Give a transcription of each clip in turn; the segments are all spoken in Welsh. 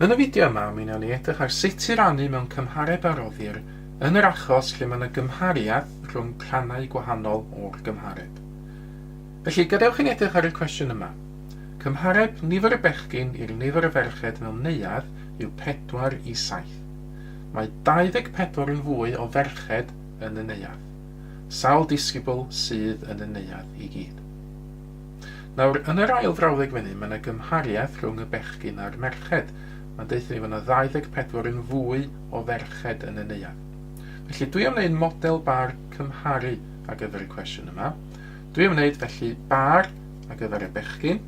Yn y fideo yma, mi wnawn ni edrych ar sut i rannu mewn cymhareb a roddir yn yr achos lle mae yna gymhariaeth rhwng rhannau gwahanol o'r gymhareb. Felly, gadewch i ni edrych ar y cwestiwn yma. Cymhareb nifer y bechgyn i'r nifer y ferched mewn neuadd yw 4 i 7. Mae 24 yn fwy o ferched yn y neuadd. Sawl disgybl sydd yn y neuadd i gyd? Nawr, yn yr ail frawddeg fan hyn, mae yna gymhariaeth rhwng y bechgyn a'r merched. Mae'n deutha ni fod yna 24 yn fwy o ferched yn y neuadd. Felly, dwi am wneud model bar cymharu ar gyfer y cwestiwn yma. Dwi am wneud, felly, bar ar gyfer y bechgyn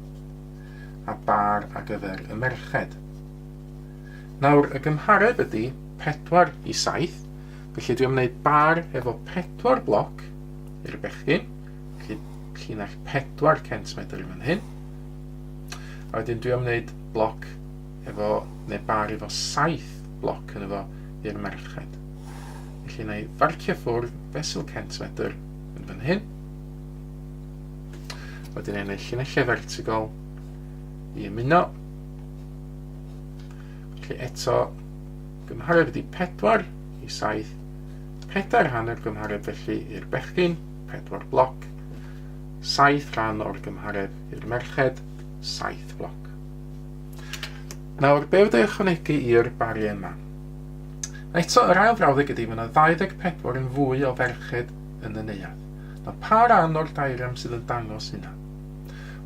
a bar ar gyfer y merched. Nawr, y gymhareb ydy 4 i 7, felly dwi am wneud bar efo 4 bloc i'r bechgyn, Felly, llinell 4 centimedr i fan hyn. A wedyn dwi am wneud bloc efo, neu bar efo 7 bloc yn efo i'r merched. Felly na i farcio ffwrdd fesul centimedr yn fan hyn. Wedyn ei wneud llinellau vertical i ymuno. Felly eto, gymhareb ydi 4 i 7, pedair hanner gymhareb felly i'r bechgyn. pedwar bloc, saith rhan o'r gymhareb i'r merched, saith bloc. Nawr, be wedi'i ychwanegu i'r bariau yma? Eto, yr ail frawddeg ydy, mae yna 24 yn fwy o ferched yn y neuadd. Nawr, pa ran o'r dairiam sydd yn dangos hynna?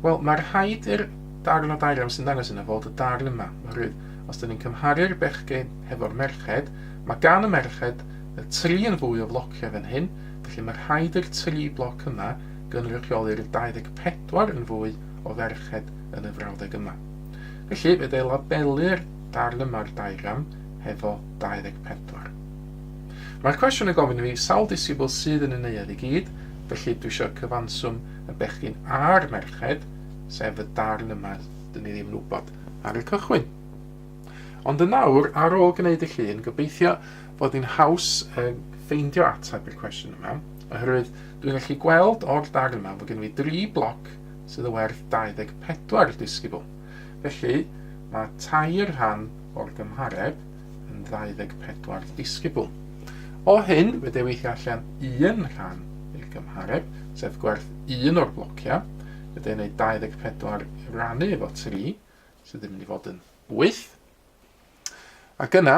Wel, mae rhaid i'r darn o dairiam sy'n dangos hynna fod y darn yma. Oherwydd, os dyn ni'n cymharu'r bechgyn hefo'r merched, mae gan y merched y tri yn fwy o flociau fan hyn, felly mae rhaid i'r tri bloc yma gynrychioli'r 24 yn fwy o ferched yn y frawddeg yma. Felly, fe ddei labelu'r darn yma'r diagram hefo 24. Mae'r cwestiwn yn gofyn i fi sawl disibl sydd yn y neuadd i gyd, felly dwi eisiau cyfanswm y bechgyn a'r merched, sef y darn yma, dyn ni ddim yn wybod ar y cychwyn. Ond yn nawr, ar ôl gwneud y llun, gobeithio fod hi'n haws um, ffeindio ateb i'r cwestiwn yma, oherwydd dwi'n gallu gweld o'r darn yma fod gen i dri bloc sydd y werth 24 disgybl. Felly, mae tair rhan o'r gymhareb yn 24 disgybl. O hyn, fe dewis i allan un rhan i'r gymhareb, sef gwerth un o'r blociau. Fe dewis ei 24 rannu efo 3, sydd yn mynd i fod yn 8. Ac yna,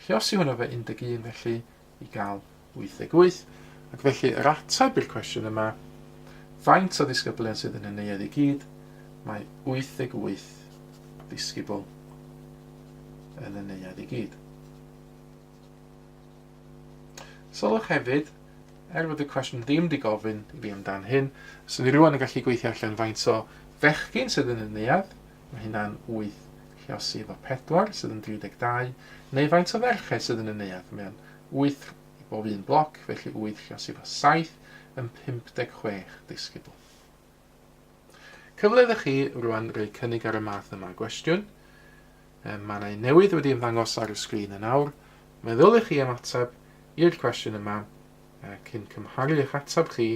Felly os yw hwnnw efo 11 felly i gael 88. Ac felly yr ateb i'r cwestiwn yma, faint o ddisgyblion sydd yn y neuadd i gyd, mae 88 ddisgybl yn y neuadd i gyd. Sylwch hefyd, er fod y cwestiwn ddim di gofyn i fi amdan hyn, swn i rwan yn gallu gweithio allan faint o fechgyn sydd yn y neuadd, Mae hynna'n wyth lluosydd o pedwar, sydd yn 32, neu faint o ferched sydd yn y neuadd. Mae o'n wyth i bob un bloc, felly wyth lluosydd o saith yn 56 disgybl. Cyfle iddo chi rwan roi cynnig ar y math yma o gwestiwn. Mae yna un newydd wedi ymddangos ar y sgrin yn awr. Meddyliwch chi am ateb i'r cwestiwn yma cyn cymharu eich ateb chi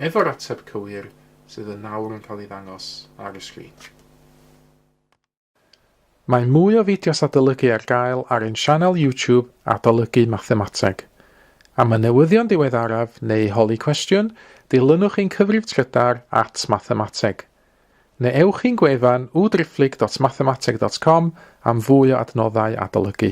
efo'r ateb cywir sydd yn nawr yn cael ei ddangos ar y sgrin. Mae mwy o fideos adolygu ar gael ar ein sianel YouTube Adolygu Mathemateg. Am y newyddion diweddaraf neu holi cwestiwn, dilynwch ein cyfrif trydar at Mathemateg. Neu ewch i'n gwefan www.driphlyg.mathemateg.com am fwy o adnoddau adolygu.